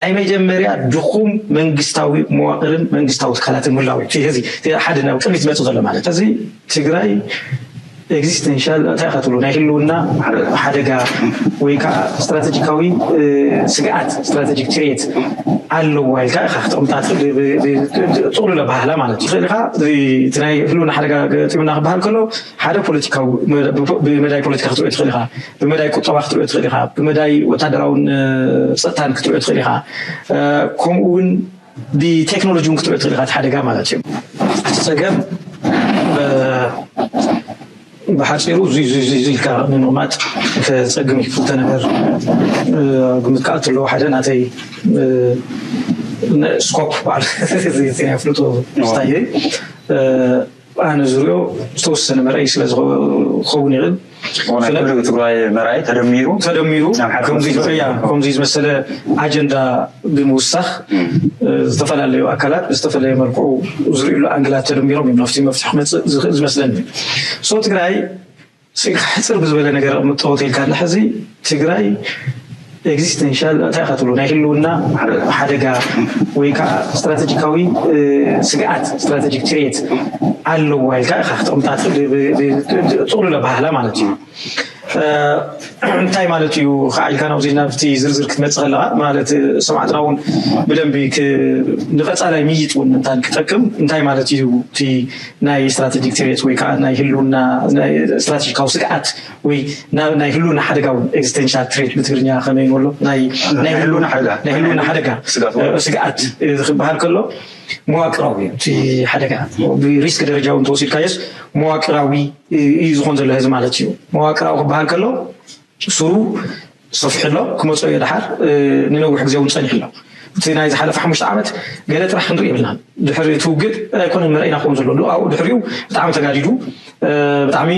ናይ መጀመርያ ድኹም መንግስታዊ መዋቕርን መንግስታዊ ትካላትን ምህላው እዩ። እዚ ሓደ ናብ ቅድሚት ዝመፅእ ዘሎ ማለት እዩ። እዚ ትግራይ ኤግዚስተንሻል እንታይ ኢኻ ትብሎ ናይ ህልውና ሓደጋ ወይ ከዓ ስትራተጂካዊ ስግኣት ስትራተጂክ ትሬት ኣለዋ ኢልካ ኢኻ ክተቕምጣ ትኽእል ብጥቕሉል ኣበሃህላ ማለት እዩ። ትኽእል ኢኻ እቲ ናይ ህልውና ሓደጋ ገጢሙና ክበሃል ከሎ ሓደ ፖለቲካዊ ብመዳይ ፖለቲካ ክትሪኦ ትኽእል ኢኻ። ብመዳይ ቁጠባ ክትሪኦ ትኽእል ኢኻ፣ ብመዳይ ወታደራውን ፀጥታን ክትሪኦ ትኽእል ኢኻ፣ ከምኡ እውን ብቴክኖሎጂ እውን ክትሪኦ ትኽእል ኢኻ እቲ ሓደጋ ማለት እዩ። እቲ ፀገም ብሓፂሩ እዙይ እዙይ እዙይ ኢልካ ንምቕማጥ ከፀግም እዩ። ክልተ ነገር ግምት ክኣቱ ኣለዎ። ሓደ ናተይ ስኮፕ በዓል ፍሉጦ ስታየይ ኣነ ዝሪኦ ዝተወሰነ መርኣይ ስለ ዝኸውን ይኽእል ኩሉ ትግራይ መርኣይ ተደሚሩ ተደሚሩ ከምዚ ዝመሰለ ኣጀንዳ ብምውሳኽ ዝተፈላለዩ ኣካላት ብዝተፈለየ መልክዑ ዝርእሉ ኣንግላት ተደሚሮም እዮም ናብቲ መፍትሒ ክመፅእ ዝመስለኒ ሶ ትግራይ ስኢልካ ሕጽር ብዝበለ ነገር ኣቕምጦ እንተኢልካና ሕዚ ትግራይ ኤግዚስተንሻል እንታይ ኢኻ ትብሎ ናይ ህልውና ሓደጋ ወይ ከዓ ስትራተጂካዊ ስግኣት ስትራተጂክ ትሬት ኣለዋ ኢልካ ኢኻ ክተቕምጣ ጥቕሉል ኣበሃህላ ማለት እዩ እንታይ ማለት እዩ ከዓ ኢልካ ናብዚ ናብቲ ዝርዝር ክትመፅእ ከለካ ማለት ሰማዕትና እውን ብደንቢ ንቀፃላይ ምይጥ እውን እንታን ክጠቅም እንታይ ማለት እዩ እቲ ናይ ስትራተጂክ ትርየት ወይ ከኣ ናይ ህልውና ስትራተጂካዊ ስግኣት ወይ ናይ ህልውና ሓደጋ ውን ኤግዚስቴንሻል ትሬት ብትግርኛ ከመይ ንብሎ ናይ ህልውና ሓደጋ ናይ ህልውና ሓደጋ ስግኣት ክበሃል ከሎ መዋቅራዊ እዩ እቲ ሓደጋ ብሪስክ ደረጃ ውን ተወሲድካዮስ መዋቅራዊ እዩ ዝኾን ዘሎ ህዚ ማለት እዩ መዋቅራዊ ክበሃል ከሎ ሱሩ ሰፊሑ ኣሎ ክመጾ እዮ ደሓር ንነዊሕ ግዜ ውን ጸኒሑ ኣሎ እቲ ናይ ዝሓለፈ ሓሙሽተ ዓመት ገለ ጥራሕ ክንርኢ የብልናን ድሕሪ እቲ ውግእ ኣይኮነን መረኢና ክከውን ዘሎ ዶ ኣብኡ ድሕሪኡ ብጣዕሚ ተጋዲዱ ብጣዕሚ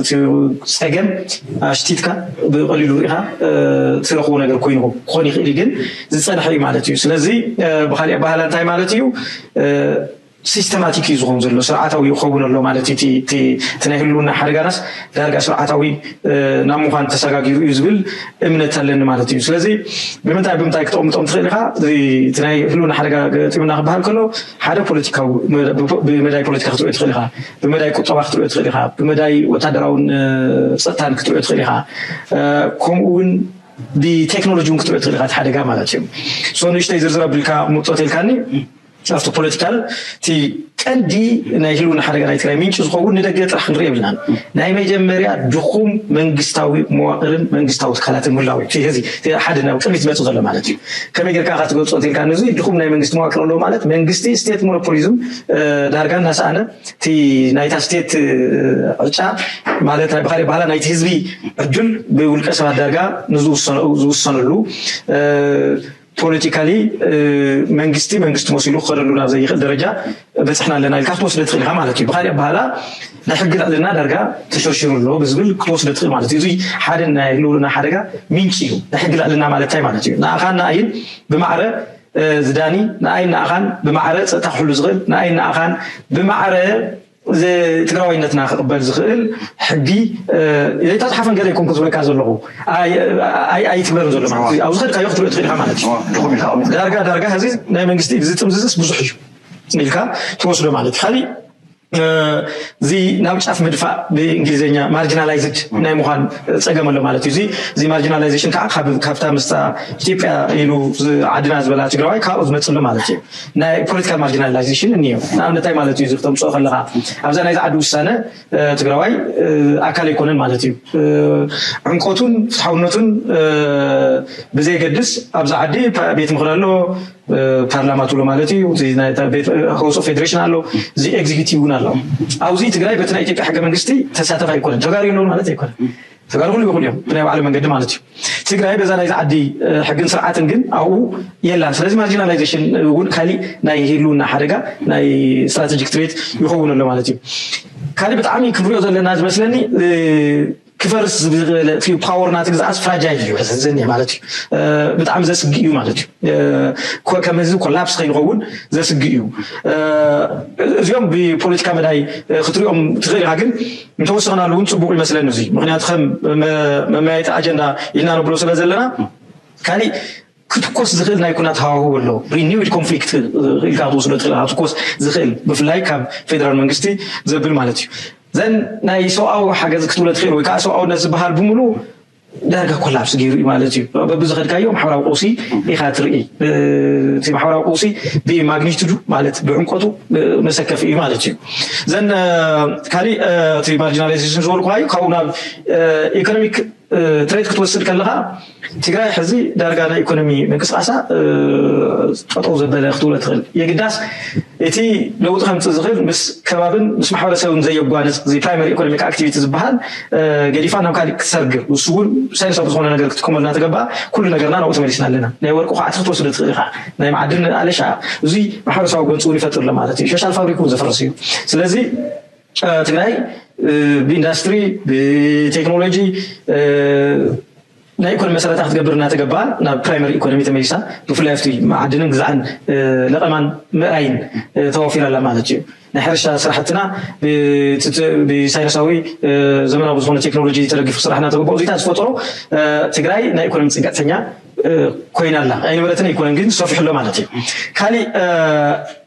እቲ ጸገም ኣሽቲትካ ብቀሊሉ ርኢካ ትረክቦ ነገር ኮይኑ ክኮን ይክእል እዩ ግን ዝጸንሐ እዩ ማለት እዩ ስለዚ ብካሊእ ኣበሃህላ እንታይ ማለት እዩ ሲስተማቲክ እዩ ዝኮን ዘሎ ስርዓታዊ ይከውን ኣሎ ማለት እዩ እቲ ናይ ህልውና ሓደጋናስ ዳርጋ ስርዓታዊ ናብ ምኳን ተሳጋጊሩ እዩ ዝብል እምነት ኣለኒ ማለት እዩ ስለዚ ብምንታይ ብምንታይ ክተቅምጦም ትክእል ኢካ እቲ ናይ ህልውና ሓደጋ ገጢሙና ክበሃል ከሎ ሓደ ፖለቲካዊ ብመዳይ ፖለቲካ ክትሪኦ ትክእል ኢካ ብመዳይ ቁጠባ ክትሪኦ ትክእል ኢካ ብመዳይ ወታደራውን ፀጥታን ክትሪኦ ትክእል ኢካ ከምኡ እውን ብቴክኖሎጂ እውን ክትሪኦ ትክእል ኢካ እቲ ሓደጋ ማለት እዩ ሶ ንእሽተይ ዝርዝር ኣቢልካ ምጦት ኢልካኒ ናብቲ ፖለቲካል እቲ ቀንዲ ናይ ህልውና ሓደጋ ናይ ትግራይ ምንጪ ዝኸውን ንደገ ጥራሕ ክንሪኦ የብልናን። ናይ መጀመርያ ድኹም መንግስታዊ መዋቕርን መንግስታዊ ትካላትን ምህላው እዩ። እቲ እቲ ሓደ ናብ ቅድሚት ዝመጽእ ዘሎ ማለት እዩ። ከመይ ጌርካ ኢኻ ትገልጾ እንተኢልካኒ እዚ ድኹም ናይ መንግስቲ መዋቅር ኣለዎ ማለት መንግስቲ ስቴት ሞኖፖሊዝም ዳርጋ እናሰኣነ እቲ ናይታ ስቴት ዕጫ ማለት ናይ ብኻልእ ኣበሃህላ ናይቲ ህዝቢ ዕድል ብውልቀ ሰባት ዳርጋ ንዝውሰነኡ ዝውሰነሉ ፖለቲካሊ መንግስቲ መንግስቲ መሲሉ ክኸደሉ ናብ ዘይኽእል ደረጃ በፅሕና ኣለና ኢልካ ክትወስደ ትኽእል ኢኻ ማለት እዩ። ብካሊእ ኣበሃህላ ናይ ሕጊ ልዕልና ዳርጋ ተሸርሺሩ ኣሎ ብዝብል ክትወስደ ትኽእል ማለት እዩ። እዙይ ሓደ ናይ ህልውና ሓደጋ ምንጪ እዩ። ናይ ሕጊ ልዕልና ማለት እንታይ ማለት እዩ? ንኣኻን ንኣይን ብማዕረ ዝዳኒ፣ ንኣይን ንኣኻን ብማዕረ ፀጥታ ክሕሉ ዝኽእል፣ ንኣይን ንኣኻን ብማዕረ እዚ ትግራዋይነትና ክቕበል ዝኽእል ሕጊ ዘይተፅሓፈን ገለ ኣይኮንኩን ዝብለካ ዘለኹ ኣይትግበርን ዘሎ ማለት እዩ። ኣብ ዝኸድካዮ ክትሪኦ ትኽእል ኢኻ ማለት እዩ። ዳርጋ ዳርጋ ሕዚ ናይ መንግስቲ እዚ ጥምዝዝስ ብዙሕ እዩ ኢልካ ትወስዶ ማለት እዩ። ካሊእ እዚ ናብ ጫፍ ምድፋእ ብእንግሊዝኛ ማርጂናላይዝድ ናይ ምዃን ፀገም ኣሎ ማለት እዩ። እዚ እዚ ማርጂናላይዜሽን ከዓ ካብታ ምስታ ኢትዮጵያ ኢሉ ዓድና ዝበላ ትግራዋይ ካብኡ ዝመፅእ ኣሎ ማለት እዩ። ናይ ፖለቲካል ማርጂናላይዜሽን እኒሀ ንኣብነት እንታይ ማለት እዩ እዚ ክተምፅኦ ከለኻ ኣብዛ ናይዚ ዓዲ ውሳነ ትግራዋይ ኣካል ኣይኮነን ማለት እዩ ዕምቆቱን ፍትሓውነቱን ብዘየገድስ ኣብዛ ዓዲ ቤት ምኽሪ ኣሎ ፓርላማ ትብሎ ማለት እዩ ሃውስ ኦፍ ፌዴሬሽን ኣሎ እዚ ኤግዚኪቲቭ እውን ኣሎ ኣብዚ ትግራይ በቲ ናይ ኢትዮጵያ ሕገ መንግስቲ ተሳተፍ ኣይኮነን ተጋሪ ኣለውን ማለት ኣይኮነን ተጋሩውን ይበኽሉ እዮም ብናይ ባዕሎም መንገዲ ማለት እዩ። ትግራይ በዛ ናይዚ ዓዲ ሕግን ስርዓትን ግን ኣብኡ የላን። ስለዚ ማርጂናላይዜሽን እውን ካሊእ ናይ ህልውና ሓደጋ ናይ ስትራቴጂክ ትሬት ይኸውን ኣሎ ማለት እዩ። ካልእ ብጣዕሚ ክንሪኦ ዘለና ዝመስለኒ ክፈርስ ዝኽእል እቲ ፓወር ናቲ ግዝኣት ፍራጃይል እዩ ዘኒሕ ማለት እዩ። ብጣዕሚ ዘስግእ እዩ ማለት እዩ። ከም ህዝቢ ኮላፕስ ከይንኸውን ዘስግእ እዩ። እዚኦም ብፖለቲካ መዳይ ክትሪኦም ትኽእል ኢኻ ግን እንተወሰኽናሉ እውን ፅቡቕ ይመስለኒ እዙይ ምክንያቱ ከም መመያየጢ ኣጀንዳ ኢልና ነብሎ ስለ ዘለና ካሊእ ክትኮስ ዝኽእል ናይ ኩናት ሃዋህው ኣሎ ሪኒዊድ ኮንፍሊክት ኢልካ ክትወስዶ ትኽእል ክትኮስ ዝኽእል ብፍላይ ካብ ፌደራል መንግስቲ ዘብል ማለት እዩ ዘን ናይ ሰብኣዊ ሓገዝ ክትብሎ ትኽእል ወይ ከዓ ሰብኣውነት ዝበሃል ብምሉ ዳርጋ ኮላፕስ ገይሩ እዩ ማለት እዩ በብዝኸድካዮ ማሕበራዊ ቀውሲ ኢኻ ትርኢ እቲ ማሕበራዊ ቀውሲ ብማግኒቱዱ ማለት ብዕምቆቱ መሰከፊ እዩ ማለት እዩ ዘን ካሊእ እቲ ማርጂናላይዜሽን ዝበልኩሃዩ ካብኡ ናብ ኢኮኖሚክ ትሬት ክትወስድ ከለኻ ትግራይ ሕዚ ዳርጋ ናይ ኢኮኖሚ ምንቅስቃሳ ጠጠው ዘበለ ክትብሎ ትኽእል የግዳስ እቲ ለውጢ ከምፅእ ዝኽእል ምስ ከባብን ምስ ማሕበረሰብን ዘየጓንፅ እዚ ፕራይመሪ ኢኮኖሚክ ኣክቲቪቲ ዝበሃል ገዲፋ ናብ ካሊእ ክትሰርግ ንሱ እውን ሳይንሳዊ ብዝኾነ ነገር ክትጥቀመሉ እናተገበኣ ኩሉ ነገርና ናብኡ ተመሊስና ኣለና። ናይ ወርቂ ኳዕቲ ክትወስዶ ትኽእል ኢኻ፣ ናይ መዓድን ኣለሻ እዙይ ማሕበረሰባዊ ጎንፂ እውን ይፈጥር ኣሎ ማለት እዩ። ሸሻል ፋብሪክ እውን ዘፍርስ እዩ። ስለዚ ትግራይ ብኢንዳስትሪ ብቴክኖሎጂ ናይ ኢኮኖሚ መሰረታ ክትገብር እናተገበኣ ናብ ፕራይመሪ ኢኮኖሚ ተመሊሳ ብፍላይ ኣብቲ መዓድንን ግዛዕን ለቐማን ምእራይን ተዋፊራ ኣላ ማለት እዩ። ናይ ሕርሻ ስራሕትና ብሳይነሳዊ ዘመናዊ ብዝኾነ ቴክኖሎጂ ተደጊፉ ክስራሕ እናተገበኦ እዙይታት ዝፈጠሮ ትግራይ ናይ ኢኮኖሚ ፅግዕተኛ ኮይና ኣላ። ኣይነበረትን ኣይኮነን ግን ሰፊሑ ኣሎ ማለት እዩ። ካሊእ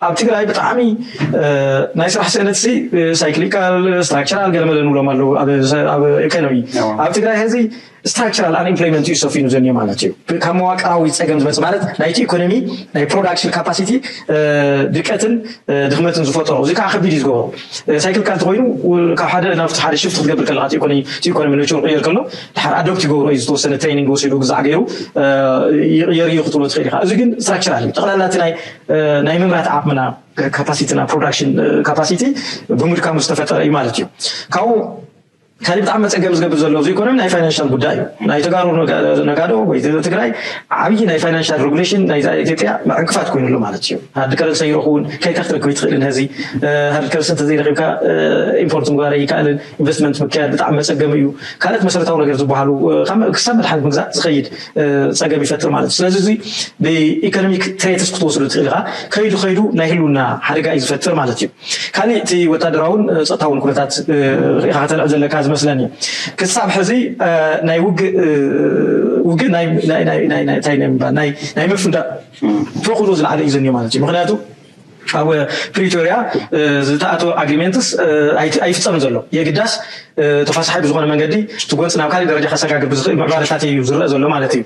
ኣብ ትግራይ ብጣዕሚ ናይ ስራሕ ስእነትሲ ሳይክሊካል፣ ስትራክቸራል ገለመለ ንብሎም ኣለዉ ኣብ ኢኮኖሚ ኣብ ትግራይ ሀዚ ስትራክቸራል ኣንኢምፕሎይመንት እዩ ሰፊኑ ዘኒዮ ማለት እዩ። ካብ መዋቅራዊ ፀገም ዝመፅ ማለት ናይቲ ኢኮኖሚ ናይ ፕሮዳክሽን ካፓሲቲ ድቀትን ድክመትን ዝፈጠሮ እዚ ከዓ ከቢድ እዩ ዝገበሮ ሳይክል ካልቲ ኮይኑ ካብ ሓደ ናብቲ ሓደ ሽፍት ክትገብር ከለካ እቲ ኢኮኖሚ ነችሩ ቅየር ከሎ ድሓር ኣዶፕት ይገብሮ እዩ ዝተወሰነ ትሬኒንግ ወሲዱ ግዛዕ ገይሩ ይቕየር እዩ ክትብሎ ትኽእል ኢኻ። እዚ ግን ስትራክቸራል እዩ ጠቕላላ እቲ ናይ ምምራት ዓቕምና ካፓሲቲና ፕሮዳክሽን ካፓሲቲ ብምድካሙ ዝተፈጠረ እዩ ማለት እዩ ካብኡ ካሊእ ብጣዕሚ መፀገሚ ዝገብር ዘሎ ኣብዚ ኢኮኖሚ ናይ ፋይናንሻል ጉዳይ እዩ። ናይ ተጋሩ ነጋዶ ወይ ትግራይ ዓብዪ ናይ ፋይናንሻል ሬጉሌሽን ናይ ኢትዮጵያ ዕንቅፋት ኮይኑ ኣሎ ማለት እዩ። ሃርድ ከረንሲ ኣይረኽቡን ከይካ ክትረክብ ኣይትኽእልን። ሀዚ ሃርድ ከረንሲ እንተዘይረኪብካ ኢምፖርት ምግባር ኣይከኣልን። ኢንቨስትመንት ምክያድ ብጣዕሚ መፀገሚ እዩ። ካልኦት መሰረታዊ ነገር ዝበሃሉ ክሳብ መድሓኒት ምግዛእ ዝኸይድ ፀገም ይፈጥር ማለት እዩ። ስለዚ እዚ ብኢኮኖሚክ ትሬትስ ክትወስዱ ትኽእል ኢኻ። ከይዱ ከይዱ ናይ ህልውና ሓደጋ እዩ ዝፈጥር ማለት እዩ። ካሊእ እቲ ወታደራውን ፀጥታውን ኩነታት ሪኢኻ ከተልዕል ዘለካ ዝመስለኒ ክሳብ ሕዚ ናይ ውግእ ውግእ ናይ ምፍንዳእ ተኽእሎ ዝለዓለ እዩ ዘኒዮ ማለት እዩ ምክንያቱ ኣብ ፕሪቶሪያ ዝተኣተወ ኣግሪሜንትስ ኣይፍፀምን ዘሎ የግዳስ ተፋሳሒ ብዝኾነ መንገዲ እቲ ጎንፂ ናብ ካሊእ ደረጃ ከሰጋግር ብዝኽእል ምዕባለታት እዩ ዝረአ ዘሎ ማለት እዩ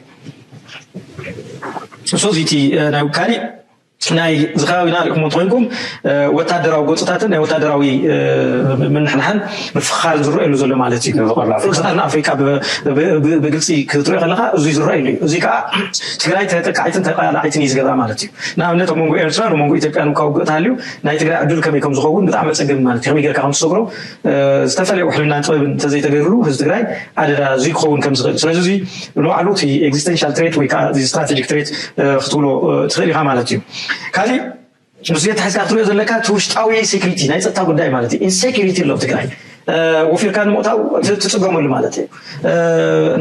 እሱ እቲ ናይ ካሊእ ናይ እዚ ከባቢና ሪእኩሞ እንተኮይንኩም ወታደራዊ ጎንፅታትን ናይ ወታደራዊ ምንሕንሓን ምፍኽኻርን ዝረኣየሉ ዘሎ ማለት እዩ። ፎርስታት ንኣፍሪካ ብግልፂ ክትሪኦ ከለካ እዙይ ዝረኣየሉ እዩ። እዙይ ከዓ ትግራይ ተጠቃዒትን ተቃላዓይትን እዩ ዝገብራ ማለት እዩ። ንኣብነት ኣብ መንጎ ኤርትራ ንመንጎ ኢትዮጵያ እንኳ ውግእ ተሃልዩ ናይ ትግራይ ዕድል ከመይ ከምዝኸውን ብጣዕሚ ኣፀገሚ ማለት እዩ። ከመይ ገይርካ ከምትሰግሮ ዝተፈለየ ውሕልናን ጥበብን እንተዘይተገይሩሉ ህዝቢ ትግራይ ኣደዳ እዙይ ክኸውን ከም ዝኽእል ስለዚ እዙይ ንባዕሉ እቲ ኤግዚስተንሻል ትሬት ወይ ከዓ ስትራቴጂክ ትሬት ክትብሎ ትኽእል ኢኻ ማለት እዩ ካሊእ ንሱ የተሓዝካ ክትሪኦ ዘለካ እቲ ውሽጣዊ ሴኩሪቲ ናይ ፀጥታ ጉዳይ ማለት እዩ ኢንሴኩሪቲ ኣሎ ትግራይ ወፊርካ ንምእታው ትፅገመሉ ማለት እዩ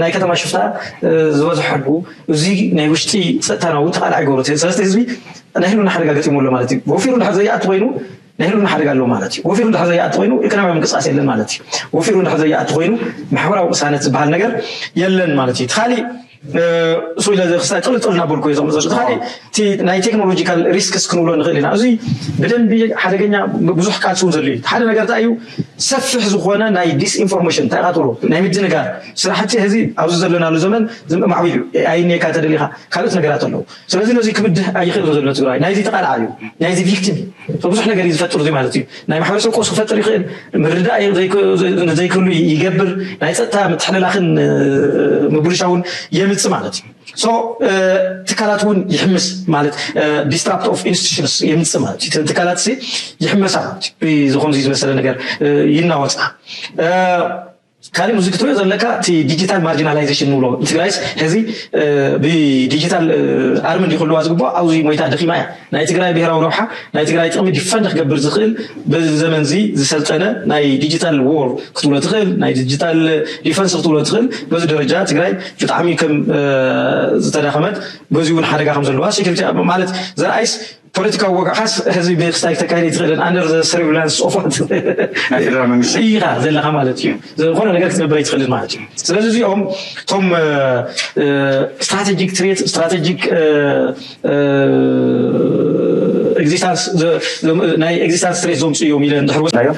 ናይ ከተማ ሽፍታ ዝበዝሐሉ እዚ ናይ ውሽጢ ፀጥታናዊ ተቃልዓ ይገብሩ ስለዚ ህዝቢ ናይ ህልውና ሓደጋ ገጢሙ ኣሎ ማለት እዩ ወፊሩ ድሓር ዘይኣቱ ኮይኑ ናይ ህልውና ሓደጋ ኣሎ ማለት እዩ። ወፊሩ እንድሕር ዘይኣቲ ኮይኑ ኢኮኖሚያዊ ምንቅስቃስ የለን ማለት እዩ። ወፊሩ እንድሕር ዘይኣቲ ኮይኑ ማሕበራዊ ቅሳነት ዝበሃል ነገር የለን ማለት እዩ። እቲ ካሊእ እሱ ኢለ ክስታይ ጥል ጥል እናበልኩ እየ ዘቕምጥ እቲ ካሊእ እቲ ናይ ቴክኖሎጂካል ሪስክስ ክንብሎ ንኽእል ኢና። እዙይ ብደንቢ ሓደገኛ ብዙሕ ቃልሲ እውን ዘድልዩ ሓደ ነገር እንታይ እዩ ሰፊሕ ዝኾነ ናይ ዲስኢንፎርሜሽን እንታይ ኢኻ ትብሎ ናይ ምድንጋር ስራሕቲ ሕዚ ኣብዚ ዘለናሉ ዘመን ዝም- ማዕቢሉ እዩ። ኤኣይ እኒኤካ ተደሊኻ ካልኦት ነገራት ኣለዉ። ስለዚ ነዙይ ክብድህ ኣይኽእልን ዘሎ ትግራዋይ ናይዙይ ተቓላዓይ እዩ ናይዙይ ቪክቲም እዩ ብዙሕ ነገር እዩ ዝፈጥር እዙይ ማለት እዩ ናይ ማሕበረሰብ ቀውስ ክፈጥር ይኽእል ምርዳእ ዘይክህሉ ይገብር ናይ ፀጥታ ምትሕልላኽን ምብልሻውን የምፅ ማለት እዩ ሶ ትካላት እውን ይሕምስ ማለት ዲስትራፕት ኦፍ ኢንስቲቱሽንስ የምፅ ማለት እዩ ትካላት ይሕመሳ ማለት እዩ ዝኾምዙይ ዝመሰለ ነገር ይናወፃ ካሊእ ብዙይ ክትሪኦ ዘለካ እቲ ዲጂታል ማርጂናላይዜሽን ንብሎ ንትግራይስ ሕዚ ብዲጂታል ኣርሚ እንዲ ክህልዋ ዝግብኦ ኣብዙይ ሞይታ ደኺማ እያ ናይ ትግራይ ብሄራዊ ረብሓ ናይ ትግራይ ጥቕሚ ዲፈንድ ክገብር ዝኽእል በዚ ዘመን እዚ ዝሰልጠነ ናይ ዲጂታል ዎር ክትብሎ ትኽእል ናይ ዲጂታል ዲፈንስ ክትብሎ ትኽእል በዚ ደረጃ ትግራይ ብጣዕሚ ከም ዝተዳኸመት በዚውን ሓደጋ ከም ዘለዋ ሴኩሪቲ ማለት ዘርኣይስ ፖለቲካዊ ወግዓኻስ ህዝቢ ብክስታይ ክተካይድ ኣይትኽእልን ኣንደር ዘ ሰሪቭላንስ ኦፍ ዋት ናይ ፌደራል መንግስቲ ኢኻ ዘለኻ ማለት እዩ ዝኾነ ነገር ክትገብር ኣይትኽእልን ማለት እዩ ስለዚ እዚኦም እቶም ስትራቴጂክ ትሬት ስትራቴጂክ ኤግዚስታንስ ናይ ኤግዚስታንስ ትሬት ዘምፅኡ እዮም ኢለ እንድሕር ወሲድናዮ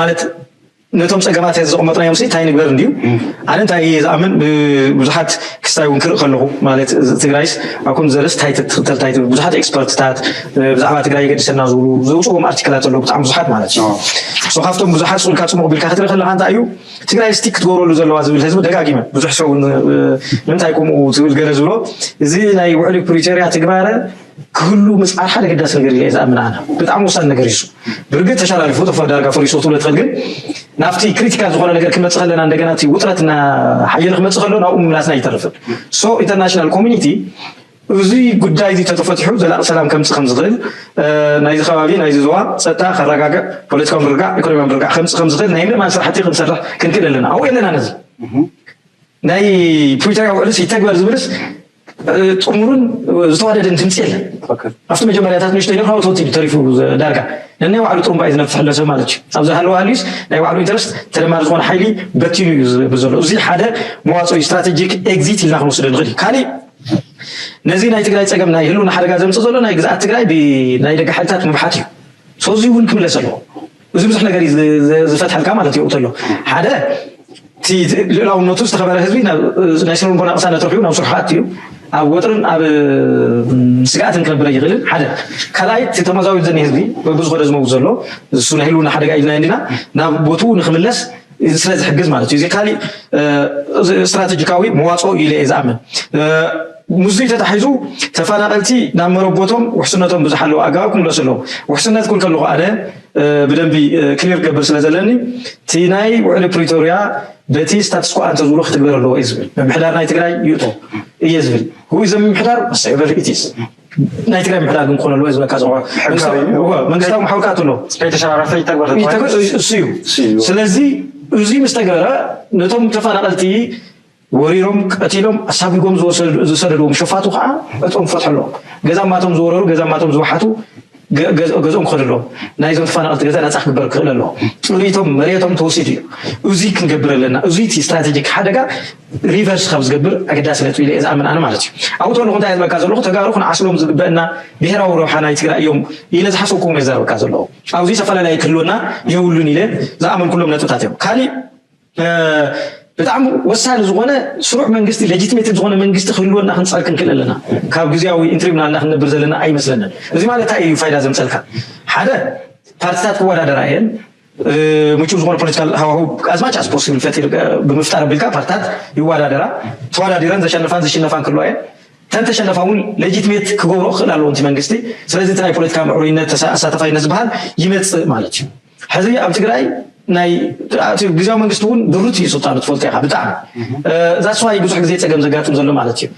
ማለት ነቶም ፀገማት ዘቕመጥናዮም እንታይ ንግበር እንድዩ ኣነ እንታይ እየ ዝኣምን ብዙሓት ክስታይ እውን ክርኢ ከለኹ ማለት ትግራይስ ኣብ ከምዚ ዘረስ እንታይ ትኽተል እንታይ ብዙሓት ኤክስፐርትታት ብዛዕባ ትግራይ የገድሰና ዝብሉ ዘውፅዎም ኣርቲክላት ኣለዉ ብጣዕሚ ብዙሓት ማለት እዩ ሶ ካብቶም ብዙሓት ስኡልካ ፅሙቕ ቢልካ ክትርኢ ከለካ እንታይ እዩ ትግራይ ስቲ ክትገብረሉ ዘለዋ ዝብል ህዝቢ ደጋጊመ ብዙሕ ሰው ንምንታይ ከምኡ ትብል ገለ ዝብሎ እዚ ናይ ውዕሊ ፕሪቶሪያ ትግባረ ክህሉ ምፅዓር ሓደ ገዳሲ ነገር ኢለ ዝኣምን ኣነ ብጣዕሚ ወሳኒ ነገር እዩ ብርግፅ ተሸላልፉ ተፈ ዳርጋ ፈሪሶ ትብለ ትኽእል ግን ናብቲ ክሪቲካል ዝኾነ ነገር ክመፅእ ከለና እንደገና እቲ ውጥረት እና ሓየለ ክመፅእ ከሎ ናብኡ ምምላስና ይተርፍን ሶ ኢንተርናሽናል ኮሚኒቲ እዚ ጉዳይ እዚ ተተፈትሑ ዘላቂ ሰላም ከምፅእ ከም ዝኽእል ናይዚ ከባቢ ናይዚ ዝዋ ፀጥታ ከረጋግዕ ፖለቲካዊ ምርጋዕ ኢኮኖሚያዊ ምርጋዕ ከምፅእ ከም ዝኽእል ናይ ምእማን ስራሕቲ ክንሰርሕ ክንክእል ኣለና ኣብኡ የለና ነዚ ናይ ፕሪቶሪያ ውዕልስ ይተግበር ዝብልስ ጥሙርን ዝተዋደደን ድምፂ የለን። ኣብቲ መጀመርያታት ንእሽተይ ነይሩ ካብኡ ተወቲዱ ተሪፉ ዳርጋ ነናይ ባዕሉ ጥሩምባ እዩ ዝነፍሕ ዘሎ ሰብ ማለት እዩ። ኣብዚ ሃለዋ ሃልዩስ ናይ ባዕሉ ኢንተረስት ተደማሪ ዝኾነ ሓይሊ በቲኑ እዩ ዝብል ዘሎ። እዚ ሓደ መዋፅኦ እዩ፣ ስትራቴጂክ ኤግዚት ኢልና ክንወስዶ ንኽእል። ካሊእ ነዚ ናይ ትግራይ ፀገም ናይ ህልውና ሓደጋ ዘምፅእ ዘሎ ናይ ግዝኣት ትግራይ ብናይ ደገ ሓይልታት ምብሓት እዩ። ሶ እዚ እውን ክምለስ ኣለዎ። እዚ ብዙሕ ነገር እዩ ዝፈትሐልካ ማለት እዩ ተሎ ሓደ እቲ ልእላውነቱ ዝተኸበረ ህዝቢ ናይ ስነ ልቦና ቅሳነት ረኪቡ ናብ ስርሑ ኣትዩ ኣብ ወጥርን ኣብ ስግኣትን ክነብረ ይኽእልን ሓደ ካልኣይ እቲ ተመዛዊል ዘኒ ህዝቢ በብዝኾነ ዝመውት ዘሎ እሱ ናይ ህልውና ሓደጋ ኢልና እንዲና ናብ ቦትኡ ንክምለስ እዚ ስለ ዝሕግዝ ማለት እዩ። እዚ ካሊእ ስትራቴጂካዊ መዋፅኦ እዩ ኢለ እየ ዝኣምን። ምስዙይ ተታሒዙ ተፈናቐልቲ ናብ መረቦቶም ውሕስነቶም ብዝሓለወ ኣገባብ ክምለሱ ኣለዎ። ውሕስነት ኩን ከለኹ ኣነ ብደንቢ ክሊር ክገብር ስለ ዘለኒ እቲ ናይ ውዕሊ ፕሪቶሪያ በቲ ስታትስኮ ኣንተዝብሎ ክትግበር ኣለዎ እየ ዝብል። ምምሕዳር ናይ ትግራይ ይእቶ እየ ዝብል። ሁይ ዘምምሕዳር ወሰቨር ኢትስ ናይ ትግራይ ምሕዳር ግን ክኾነሉ ህዝቢ እካ ዝቆ መንግስታዊ መሓውር ክኣት ኣሎ ከይተሸራረፈ ይተግበር ይተግበር እሱ እዩ ስለዚ እዙይ ምስ ተገበረ ነቶም ተፈናቐልቲ ወሪሮም ቀቲሎም ኣሳቢጎም ዝሰደድዎም ሸፋቱ ከዓ እቶም ፈትሐሎ ገዛ ማቶም ዝወረሩ ገዛ ማቶም ዝወሓቱ ገዝኦም ክኸዱ ኣለዎም። ናይዞም ተፋናቐልቲ ገዛ ናጻ ክግበር ክኽእል ኣለዎ። ጥሪቶም መሬቶም ተወሲዱ እዩ። እዙይ ክንገብር ኣለና። እዙይ እቲ ስትራቴጂክ ሓደጋ ሪቨርስ ካብ ዝገብር ኣገዳሲ ነጥቢ ኢለ ዝኣምን ኣነ ማለት እዩ። ኣብኡ ተለኹ እንታይ ዝበካ ዘለኹ ተጋሩ ክንዓስሎም ዝግበአና ብሔራዊ ረብሓ ናይ ትግራይ እዮም ኢለ ዝሓሰብኩ እውን የዛረበካ ዘለኹ። ኣብዚ ተፈላለየ ክህልወና የብሉን ኢለ ዝኣመንኩሎም ነጥብታት እዮም። ካሊእ ብጣዕሚ ወሳኒ ዝኾነ ስሩዕ መንግስቲ ሌጂትሜት ዝኾነ መንግስቲ ክህልወና ክንፀር ክንክእል ኣለና ካብ ግዜያዊ ኢንትሪም ናልና ክንነብር ዘለና ኣይመስለንን እዚ ማለት እንታይ እዩ ፋይዳ ዘምፀልካ ሓደ ፓርቲታት ክወዳደራ እየን ምቹው ዝኾነ ፖለቲካል ሃዋሁ ኣዝማች ኣስ ፖስብል ፈጢር ብምፍጣር ኣቢልካ ፓርቲታት ይወዳደራ ተወዳዲረን ዘሸንፋን ዝሽነፋን ክህልዋ እየን ተንተሸነፋ እውን ሌጂትሜት ክገብሮ ክኽእል ኣለዎ እቲ መንግስቲ ስለዚ እቲ ናይ ፖለቲካ ምዕሩይነት ኣሳታፋይነት ዝበሃል ይመፅእ ማለት እዩ ሕዚ ኣብ ትግራይ ናይ እቲ ግዜያዊ መንግስቲ እውን ድሩት እዩ ስልጣኑ ትፈልጦ ኢኻ ብጣዕሚ ዛስ ዋይ ብዙሕ ግዜ ፀገም ዘጋጥም ዘሎ ማለት እዩ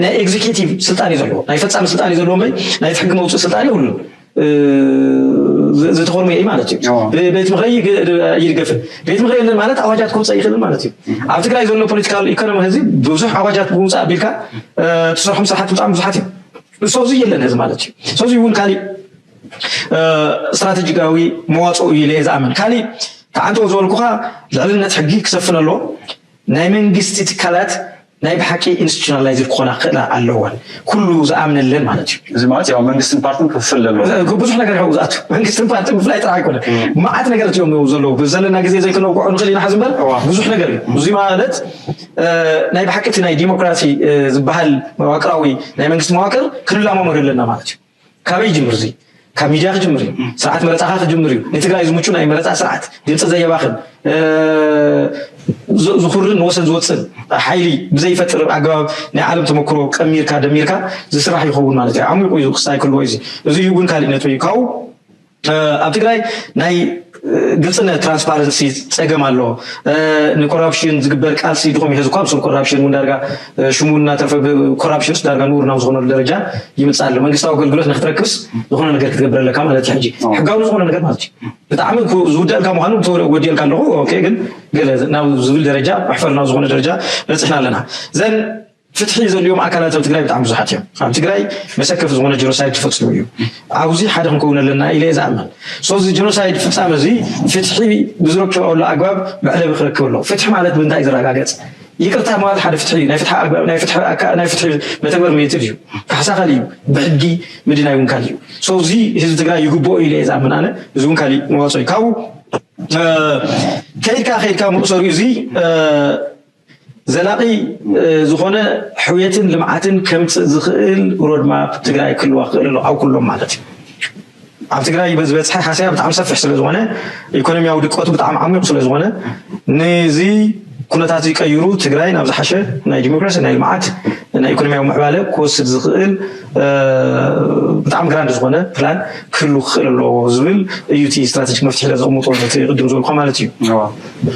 ናይ ኤግዚኪቲቭ ስልጣን እዩ ዘለዎ ናይ ፈፃሚ ስልጣን እዩ ዘለዎ እምበይ ናይ እቲ ሕጊ መውፅኢ ስልጣን የብሉን ዝተኾርመ እዩ ማለት እዩ ቤት ምኽሪ ይድገፍን ቤት ምኽሪ የለን ማለት ኣዋጃት ክውፀእ ይኽእልን ማለት እዩ ኣብ ትግራይ ዘሎ ፖለቲካል ኢኮኖሚ ህዚ ብዙሕ ኣዋጃት ብምውፃእ ኣቢልካ ትሰርሖም ስራሕቲ ብጣዕሚ ብዙሓት እዮም ሰውዚ የለን ህዚ ማለት እዩ ሰውዚ እውን ካሊእ ስትራተጂካዊ መዋፅኦ እዩ ኢለ ዝኣምን ካሊእ ተዓንተው ዝበልኩኻ ልዕልነት ሕጊ ክሰፍን ኣለዎ ናይ መንግስቲ ትካላት ናይ ብሓቂ ኢንስቲቱሽናላይዝድ ክኾና ክኽእላ ኣለወን ኩሉ ዝኣምነለን ማለት እዩ እዚ ማለት ያው መንግስትን ፓርትን ክፍል ኣለዎ ብዙሕ ነገር ያው ዝኣቱ መንግስትን ፓርቲ ምፍላይ ጥራሕ ኣይኮነ መዓት ነገራት እዮም ዘለዉ ብዘለና ግዜ ዘይክነውቅዖ ንኽእል ኢና ሕዚ እምበር ብዙሕ ነገር እዩ እዚ ማለት ናይ ብሓቂ እቲ ናይ ዲሞክራሲ ዝበሃል መዋቅራዊ ናይ መንግስቲ መዋቅር ክንላማመዶ ኣለና ማለት እዩ ካበይ ይጅምር እዙይ? ካብ ሚድያ ክጅምር እዩ። ስርዓት መረፃኻ ክጅምር እዩ። ንትግራይ ዝምቹ ናይ መረፃ ስርዓት ድምፂ ዘየባኽን ዝኹርን ንወሰን ዝወፅን ሓይሊ ብዘይፈጥር ኣገባብ ናይ ዓለም ተመክሮ ቀሚርካ ደሚርካ ዝስራሕ ይኸውን ማለት እዩ። ዓሚቑ እዩ ክስታይ ክህልዎ እዩ። እዙይ እውን ካሊእ ነጥቢ እዩ። ካብኡ ኣብ ትግራይ ናይ ግልፅነት ትራንስፓረንሲ ፀገም ኣሎ ንኮራፕሽን ዝግበር ቃልሲ ድኹም እዩ ህዝኳ ብስም ኮራፕሽን እውን ዳርጋ ሽሙ እናተርፈ ኮራፕሽንስ ዳርጋ ንቡር ናብ ዝኾነሉ ደረጃ ይምፅእ ኣሎ መንግስታዊ ኣገልግሎት ንክትረክብስ ዝኾነ ነገር ክትገብር ኣለካ ማለት እዩ ሕጂ ሕጋዊ ዝኾነ ነገር ማለት እዩ ብጣዕሚ ዝውደልካ ምዃኑ ወዲልካ ኣለኹ ኦኬ ግን ገለ ናብ ዝብል ደረጃ መሕፈር ናብ ዝኾነ ደረጃ በፅሕና ኣለና ዘን ፍትሒ ዘድልዮም ኣካላት ኣብ ትግራይ ብጣዕሚ ብዙሓት እዮም። ኣብ ትግራይ መሰከፊ ዝኾነ ጀኖሳይድ ተፈፂሙ እዩ። ኣብዚ ሓደ ክንከውን ኣለና ኢለ እየ ዝኣምን። ሶ እዚ ጀኖሳይድ ፍፃመ እዚ ፍትሒ ብዝረክበሉ ኣግባብ መዕለቢ ክረክብ ኣለዎ። ፍትሒ ማለት ብምንታይ እዩ ዝረጋገፅ? ይቅርታ ምባል ሓደ ፍትሒ እዩ። ናይ ፍትሒ ኣግባብ ናይ ፍትሒ ኣካ ናይ ፍትሒ መተግበር ሜትድ እዩ። ካሕሳ ካሊእ እዩ። ብሕጊ ምድናይ እውን ካሊእ እዩ። ሶ እዚ ህዝቢ ትግራይ ይግብኦ ኢለ እየ ዝኣምን ኣነ። እዚ እውን ካሊእ መዋፅኦ እዩ። ካብኡ ከይድካ ከይድካ መእሰሪኡ እዚ ዘላቒ ዝኾነ ሕውየትን ልምዓትን ከምፅእ ዝኽእል ሮድማፕ ትግራይ ክህልዋ ክኽእል ኣሎ ኣብ ኩሎም ማለት እዩ። ኣብ ትግራይ ዝበፅሐ ሃሰያ ብጣዕሚ ሰፊሕ ስለ ዝኾነ ኢኮኖሚያዊ ድቀቱ ብጣዕሚ ዓሚቑ ስለ ዝኾነ ንዚ ኩነታት እዚ ቀይሩ ትግራይ ናብ ዝሓሸ ናይ ዲሞክራሲ ናይ ልምዓት ናይ ኢኮኖሚያዊ ምዕባለ ክወስድ ዝኽእል ብጣዕሚ ግራንድ ዝኾነ ፕላን ክህሉ ክኽእል ኣለዎ ዝብል እዩ እቲ ስትራቴጂክ መፍትሒ ኢለ ዘቕምጦ ነቲ ቅድም ዝበልኩ ማለት እዩ።